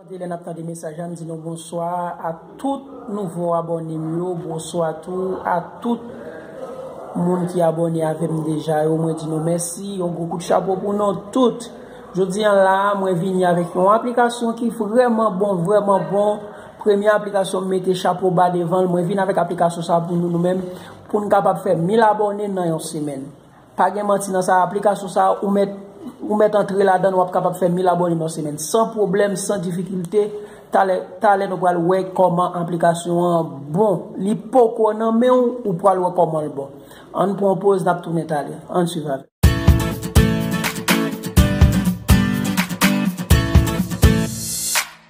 Mwen lè nap tande mesaj la m di nou bonswa a tout nouvo abòne m yo bonswa tou a tout moun ki abòne avè m deja yo mwen di nou mèsi yon gwo kout chapo pou nou tout jodi an la mwen vini avèk yon aplikasyon ki vrèman bon vrèman bon premye aplikasyon m mete chapo ba devan l mwen vini avèk aplikasyon sa pou nou nou menm Poun kapab fè 1000 abòne nan yon semèn. Pa gen manti nan sa aplikasyon sa ou mèt ou mèt antre ladann wap kapab fè 1000 abòne nan yon semèn san pwoblèm san difikilte talè talè nou pral wè kòman aplikasyon an bon li poko nan menw ou pral wè kòmanl bon ann pran yon poz nap tounen talè ann swiv avèm.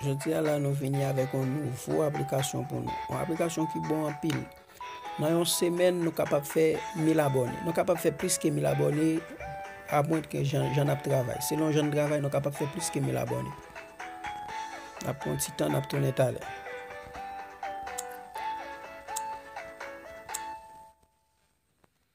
Jodi a la nou vini avèk yon nouvo aplikasyon pou nou. Yon aplikasyon ki bon anpil. Nan yon semèn nou kapab fè 1000 abòne. Nou kapab fè plis ke 1000 abòne apwen ke jan n ap travay. Selon jan n travay nou kapab fè plis ke 1000 abòne. N ap pran yon ti tan n ap tounen talè.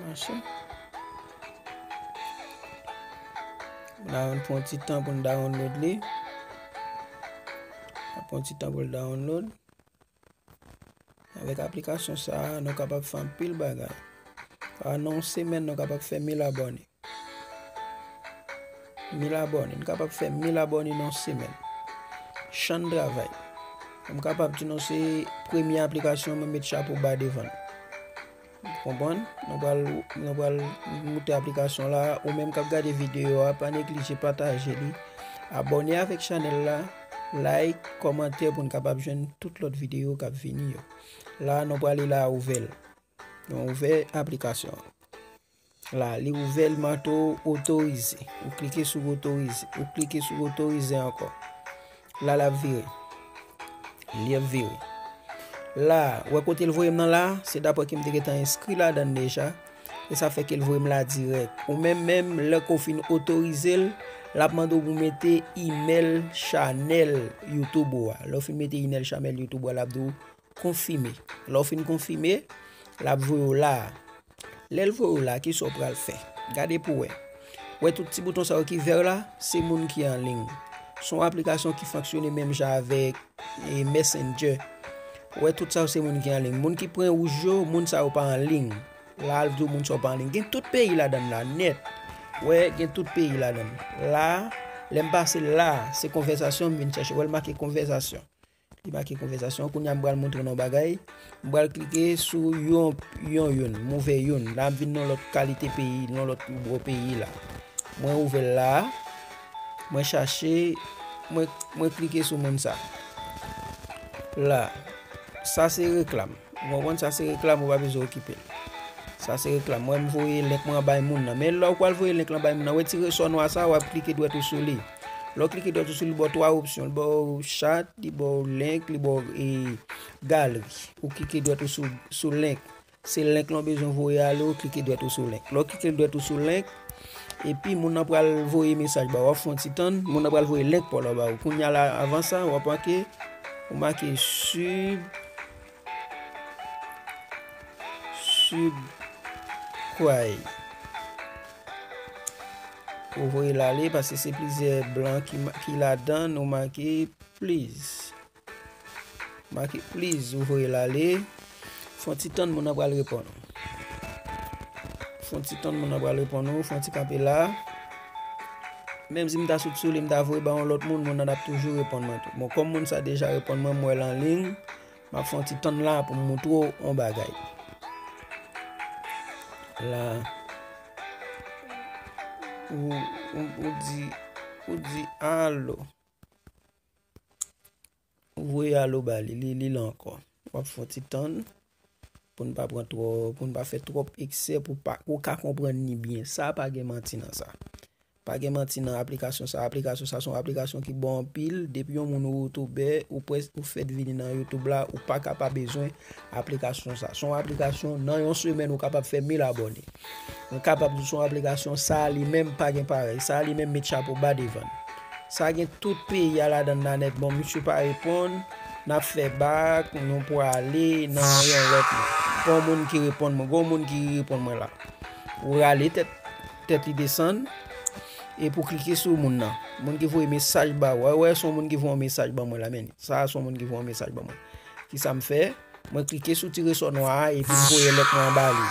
Manche. La yon pon ti tan pou n download li. La pon ti tan pou l download. Avèk aplikasyon sa, nou kapab fè anpil bagay. An nou semen nou kapab fè mil abone. Mil abòne, n kapab fè mil abòne nan yon semèn. Chan travay. M kapab di nou se premye aplikasyon mwen met chapo ba devan l. Ou konprann? Nou pral, nou pral moute aplikasyon la. Ou menm k ap gade videyo a, pa neglije pataje li. Abòne avèk chanèl la, like, kòmante pou n kapab jwenn tout lòt videyo k ap vini yo. La nou prale la ouvè l. Nou ouvè aplikasyon an. La, li ouvè l manto otorize. Ou klike sou otorize. Ou klike sou otorize ankò. La l ap vire. Li ap vire. La, wè kote l voye m nan la? Se dapre ke m te gentan enskri ladan l deja. E sa fè ke l voye m la dirèk. Ou menm menm, lè ke w fin otorize l, l ap mande w pou w mete imèl chanèl YouTube ou a. Lè w fin mete imèl chanèl YouTube ou a, l ap di w konfime. Lè w fin konfime, l ap voye w la. Lèl voye w la kisa w pral fè? Gade pou wè. Wè tout ti bouton sa yo ki vèr la, se moun ki anliy. Se yon aplikasyon ki fonksyone menm jan avèk e mèsendjè. Wè tout sa yo se moun ki anliy. Moun ki pwen wouj yo, moun sa yo pa anliy. La al diw moun sa yo pa anliy. Gen tout peyi ladann la nèt. Wè gen tout peyi ladann. La, lèm pase la, se konvèzasyon m vin chèche. Wèl make konvèzasyon. Li make konvèsasyon. Kounye a m pral montre nou yon bagay. M pral klike sou yon yon youn. M ouvè youn. La m vin nan lòt kalite peyi, nan lòt nouvo peyi la. Mwen ouvè l la a. Mwen chache. Mwen klike sou moun sa. La. Sa se reklam. Ou konprann? Sa se reklam ou pa bezwen okipe l. Sa se reklam. Mwen voye lèk mwen bay moun nan. Men lè ou pral voye lèk lan bay moun nan, wè ti resò nwa sa a, w ap klike dwèt ou sou li. Lè w klike dwat ou sou li ba w 3 opsyon, li ba w chat, li ba w link, li ba w galri. Ou klike dwat ou sou link, se link lan w bezwen voye ale ou klike dwat ou sou link. Lè w klike dwat ou sou link, epi moun nan pral voye mesaj ba w, w ap fè yon ti tann, moun nan pral voye link pa w la ba w. Kounya la avan sa, w ap make, ou make sub. Sud kway Ou voyel ale paske se plizyè blan ki ladan nou make please Make please ou voyel ale Fon ti tann moun nan pral reponn ou Fon ti tann moun nan pral reponn ou Fon ti kanpe la Menm si m ta sot sou li m ta voye ba yon lòt moun moun nan ap toujou reponn mwen tou Bon kòm moun sa deja reponn mwen m wèl anliy Map fè yon ti tann la pou m montre w yon bagay. La. Ou, ou, ou di, ou di alo. Ou voye alo ba li, li, li la ankò. Wap fè yon ti tann pou n pa pran twò, pou n pa fè twòp eksè pou pa ou ka konprann ni byen. Sa pa gen manti nan sa. Pa gen manti nan aplikasyon sa aplikasyon sa son aplikasyon ki bon anpil depi yon moun ou youtoubè ou pwès ou fèt vini nan youtoub la ou paka pa bezwen aplikasyon sa son aplikasyon nan yon semèn ou kapab fè mil abòne mwen kapab di son aplikasyon sa li menm pa gen parèy sa li menm met chapo ba devan sa gen tout peyi a ladan nan nèt bon misye pa reponn nap fè bak nou pwale nan yon lòt gon moun ki reponn mwen gon moun ki reponn mwen la ou rale tèt Tèt li desann e pou klike sou moun nan. Moun ki voye mesaj ba wè. Wè son moun ki voye mesaj ba mwen la men. Sa son moun ki voye mesaj ba mwen. Ki sa m fè? Mwen klike sou tire son nwa a e pi m voye lèt mwen an ba li.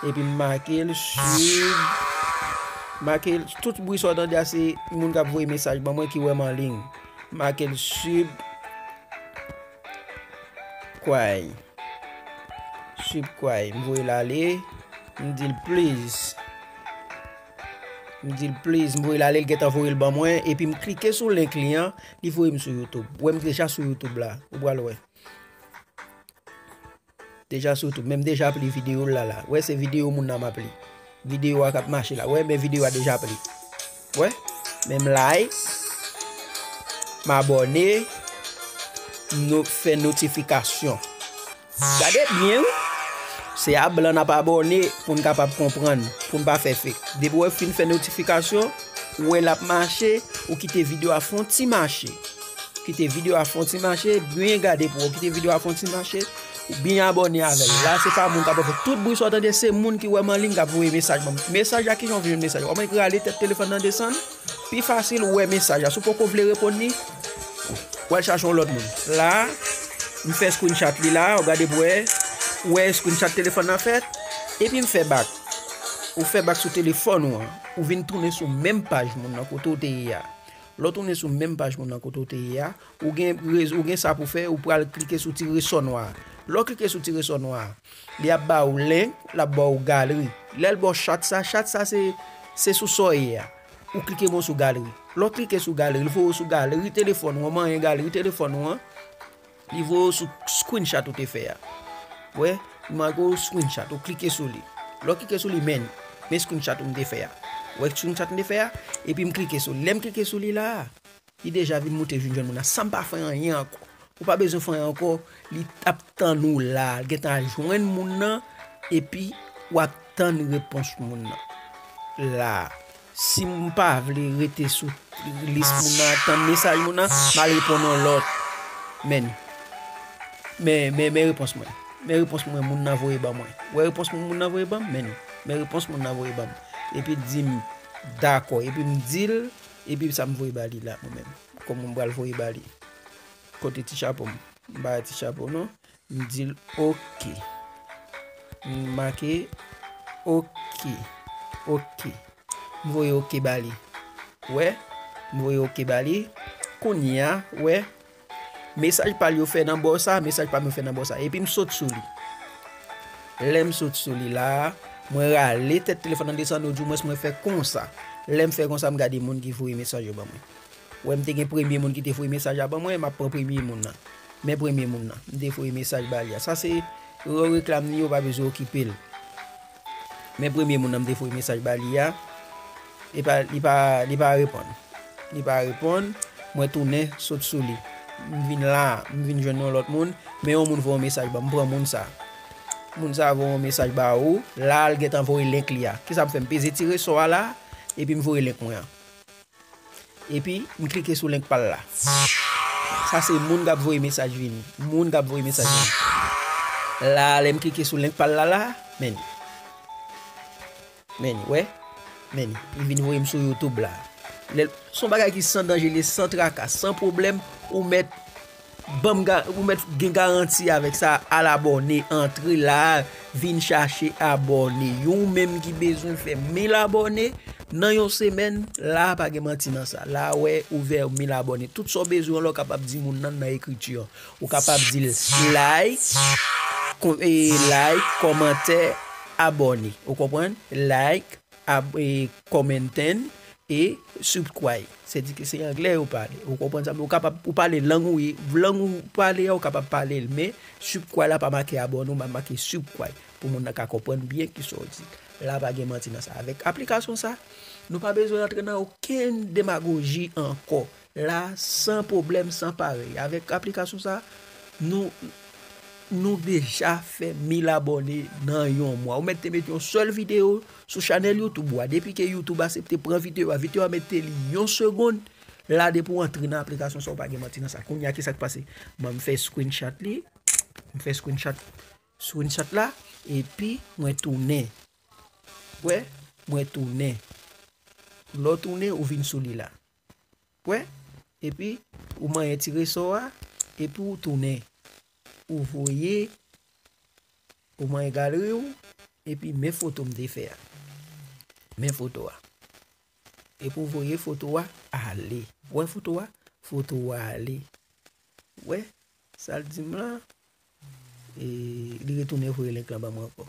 E pi m make l sub. Make l. Tout bri sa w tande a se moun k ap voye mesaj ba mwen ki wè m anliy. Make l sub. Kwai. Sweep kwai. M voye l ale. M di l please. M di l please. M voye l ale. L gentan voye l ban mwen. Epi m klike sou link li an. Li voye m sou YouTube. Ou wè m deja sou YouTube la. Ou pral wè. Deja sou tout menm deja ap li video l la la wè se video moun nan map li video a kap mache la wè men video a deja ap li wè men m like m abòne m no fè notifikasyon gade byen wi se a blan nap abòne pou n kapab konprann pou n pa fè fek depi w fin fè notifikasyon wè lap mache ou kite video a fon ti mache. Kite video a fon ti mache, byen gade pou ou kite video a fon ti mache, ou byen abone avèl. La se pa moun kap fè tout bri sou atande se moun ki wè man lin kap voye mesaj moun. Mesaj la ki jan vye mesaj. Ou mwen rale tèt telefon nan desan, pi fasil ou wè mesaj la. Sou poko vle repon ni, ou al chachon lòt moun. La, m fè screen chat li la, ou gade pou ou, ou wè screen chat telefon nan fèt, epi m fè bak. Ou fè bak sou telefon ou an, ou vin tounen sou menm paj moun nan kote ou te ye a. Lè w tounen sou menm paj moun nan kote w te ye a, ou gen ou gen sa pou fè, ou pral klike sou ti resò nwa a. Lè w klike sou ti resò nwa a, li ap ba ou link, l ap ba ou galri. Lè l ba w chat sa, chat sa se se sou sa w ye a. Ou klike bon sou galri. Lè w klike sou galri, li voye w sou galri telefòn ou an, manyen galri telefòn ou an. Li voye w sou screenshot ou te fè a. Wè, li make w screenshot, ou klike sou li. Lè w klike sou li, men, men screenshot ou m te fè a. Wè screenshot m te fè a, epi m klike sou li. Lè m klike sou li la a, li deja vin moute vin jwenn moun nan san m pa fè anyen ankò. Ou pa bezwen fè anyen ankò, li ap tann ou la a. Li gen tan al jwenn moun nan, epi w ap tann repons moun nan la a. Si m pa vle rete sou lis moun nan tann mesaj moun nan, m al reponn yon lòt. Men repons mwen. Men repons mwen moun nan voye ban mwen. Wè repons mwen moun nan voye ban m? Men li. Men repons moun nan voye ban m. Epi l di m, dakò. Epi m di l, epi sa m voye ba li la mwen menm? Kòman m pral voye ba li? Kote ti chapo m? M pa gen ti chapo non. M di l ok. M make ok. Ok. M voye ok ba li. Wè? M voye ok ba li. Kounye a, wè? Mesaj pa l yo fè nan bò sa, mesaj pa m yo fè nan bò sa. Epi m sot sou li. Lè m sot sou li la a, mwen rale tèt telefòn nan desann, oudimwens mwen fè konsa. Lè m fè konsa, m gade moun ki voye mesaj yo ban mwen. Wè m te gen premye moun ki te voye mesaj la ban mwen, m ap pran premye moun nan. Men premye moun nan, m te voye mesaj ba li a. Sa se yon reklam li, ou pa bezwen okipe l. Men premye moun nan m te voye mesaj ba li a, li pa, li pa, li pa reponn. Li pa reponn, mwen tounen sot sou li. M vin la, m vin jwenn yon lòt moun, men yon moun voye yon mesaj ban m, m pran moun sa. Moun sa voye yon mesaj ba ou, la l gentan voye link li a. Kisa m fè? M peze ti resò a la, epi m voye link mwen an. Epi m klike sou link pal la. Sa se moun kap voye mesaj vini. Moun kap voye mesaj vini. La lè m klike sou link pal la la. Meni. Meni we. Meni. Li vini voye m sou YouTube la. Son bagay ki san danje li san traka. San problem ou met. Banm ga ou mèt gen garanti avèk sa al abòne antre la vin chache abòne yo ou menm ki bezwen fè 1000 abòne nan yon semèn la pa gen manti nan sa la wè ouvè 1000 abòne tout sa ou bezwen la ou kapab di moun nan nan ekriti an ou kapab dil like like kòmantè abòne ou konprann like. Commenten e subscribe se di ke se anglè yo pale ou konprann sa men ou kapab ou pale lang ou ye lang ou pale a ou kapab pale l men subscribe la pa make abone men make subscribe pou moun nan ka konprann byen kisa w di la pa gen manti nan sa avèk aplikasyon sa nou pa bezwen rantre nan okenn demagoji ankò la san pwoblèm san parèy avèk aplikasyon sa nou nou deja fè 1000 abòne nan yon mwa ou mèt te met yon sèl video sou chanèl youtube ou a depi ke youtube asepte pran video a video a mèt te li yon segond la depi ou antre nan aplikasyon sa ou pa gen manti nan sa kounya kisak pase banm fè screenshot li m fè screenshot screenshot la epi mwen tounen wè mwen tounen lè ou tounen ou vin sou li la. wè epi ou manyen ti resò a epi ou tounen ou voye ou manyen galeri ou epi men foto m te fè a men foto a epi ou voye foto a ale wè foto a foto a ale wè sa l di m lan e li retounen voye link lan ba mwen ankò.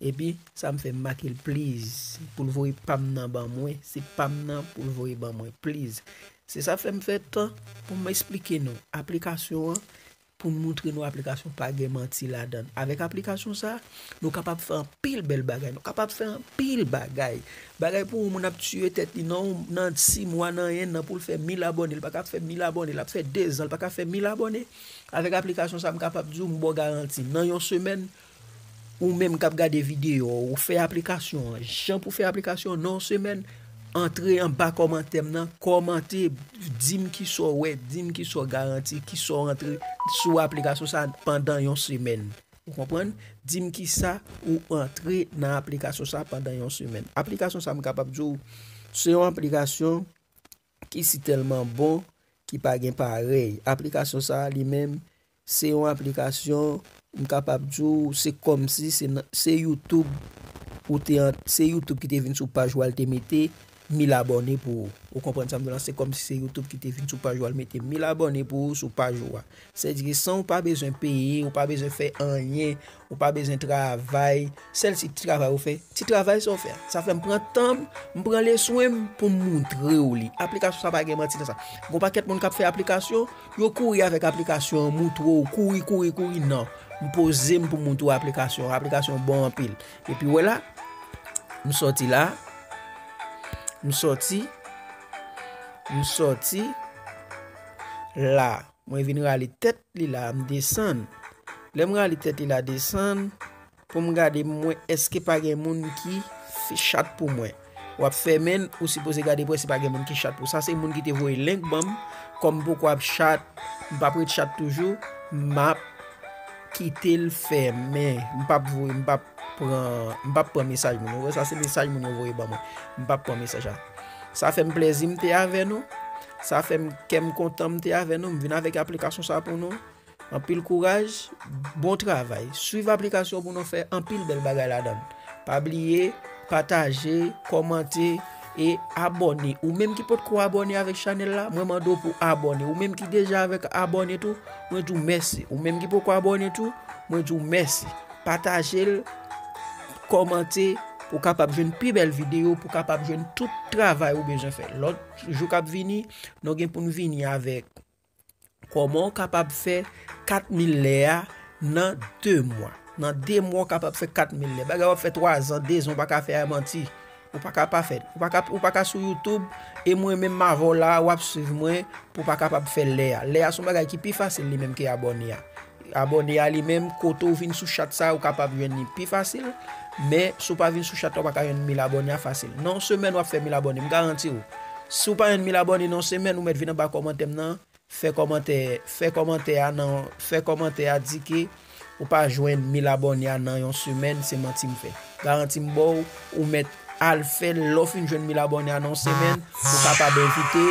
Epi sa m fè m make l please pou l voye pa m nan ban mwen se pa m nan pou l voye ban mwen please se sa fè m fè tan pou m esplike nou aplikasyon an pou m moutre nou aplikasyon pa gen manti ladan l avèk aplikasyon sa nou kapab fè anpil bèl bagay nou kapab fè anpil bagay bagay pou yon moun ap tiye tèt li nan nan 6 mwa nan 1 an pou l fè mil abòne l pa ka fè mil abòne l ap fè 2 zan l pa ka fè mil abòne avèk aplikasyon sa m kapab di w m ba w garanti nan yon semèn. Ou menm kap gade video a ou fè aplikasyon an jan pou fè aplikasyon an nan yon semèn antre anba kòmantè m nan kòmante dim kisa w wè dim kisa w garanti kisa w antre sou aplikasyon sa pandan yon semèn ou konprann dim kisa ou antre nan aplikasyon sa pandan yon semèn aplikasyon sa m kapab di w se yon aplikasyon ki si tèlman bon ki pa gen parèy aplikasyon sa li menm Se yon aplikasyon, m kapab di w, se kòmsi se nan, se YouTube ou te an, se YouTube ki te vin sou paj ou al te mete 1000 abòne pou ou. Ou konprann sa m di w la? Se kòmsi se YouTube ki te vin sou paj ou al mete 1000 abòne pou ou sou paj ou a. Sèdike san ou pa bezwen peye, ou pa bezwen fè anyen, Ou pa bezwen travay, sèl si ti travay ou fè, ti travay sa ou fè a, sa fè m pran tan m, m pran le swen m pou m montre ou li. Aplikasyon sa pa gen manti nan sa. Gon pakèt moun k ap fè aplikasyon, yo kouri avèk aplikasyon an, montre ou, kouri, kouri, kouri, nan. M poze m pou m montre ou aplikasyon an, aplikasyon an bon anpil. Epi wè la, m sòti la, m sòti, m sòti la. Mwen vin rale tèt li la m desann. Lè m rale tèt li la desann pou m gade m wè èske pa gen moun ki chat pou mwen. W ap fè men n, ou sipoze gade pou wè si pa gen moun ki chat pou w. Sa se moun ki te voye link ban m. Kòm m poko ap chat, m pa p ret chat toujou, m ap kite l fèmen. M p ap voye, m p ap. pran m pap pran mesaj moun yo. Ou wè sa se mesaj moun yo voye ban mwen. M pap pran mesaj sa. Sa fè m plezi m te avè nou. Sa fè m kè m kontan m te avè nou. M vin avèk aplikasyon sa pou nou. Anpil kouraj, bon travay. Swiv aplikasyon pou nou fè anpil bèl bagay ladan. Pa bliye, pataje, kòmante, e abone. Ou menm ki pot ko abone avèk chanèl la, mwen mande w pou abone. Ou menm ki deja avèk abone tou, mwen di w mèsi. Ou menm ki poko abone tou, mwen di w mèsi. Pataje l, kòmante pou kapab jwenn pi bèl videyo, pou kapab jwenn tout travay ou bezwen fè. Lòt jou kap vini, nou gen pou nou vini avèk kòman ou kapab fè 4000 lè a nan 2 mwa. Nan 2 mwa ou kapab fè 4000 lè. Bagay wap fè 3 zan, 2 zan ou pa ka fè a manti. Ou paka pa fèl. Ou paka ou paka sou YouTube e mwen menm m avè w la a, w ap swiv mwen pou w pa kapab fè l lè a. Lè a se yon bagay ki pi fasil li menm ke abòne a. Abòne a li menm kote ou vin sou chat sa a ou kapab jwenn li pi fasil, men si w pa vin sou chat la ou pa ka jwenn 1000 abòne a fasil. Nan yon semèn w ap fè 1000 abòne, m garanti w. Si w pa jwenn 1000 abòne nan yon semèn ou mèt vin anba kòmantè m nan. Fè kòmantè Fè kòmantè a nan Fè kòmantè a di ke ou pa jwenn 1000 abòne a nan yon semèn se manti m fè garanti m baw ou mèt al fèl lè w fin jwenn 1000 abòne a nan yon semèn ou kapab envite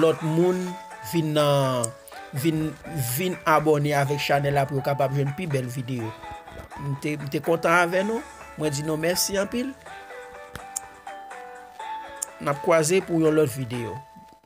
lòt moun vin nan vin vin abòne avèk chanèl la pou yo kapab jwenn pi bèl videyo m te m te kontan avè nou mwen di nou mèsi anpil nap kwaze pou yon lòt videyo.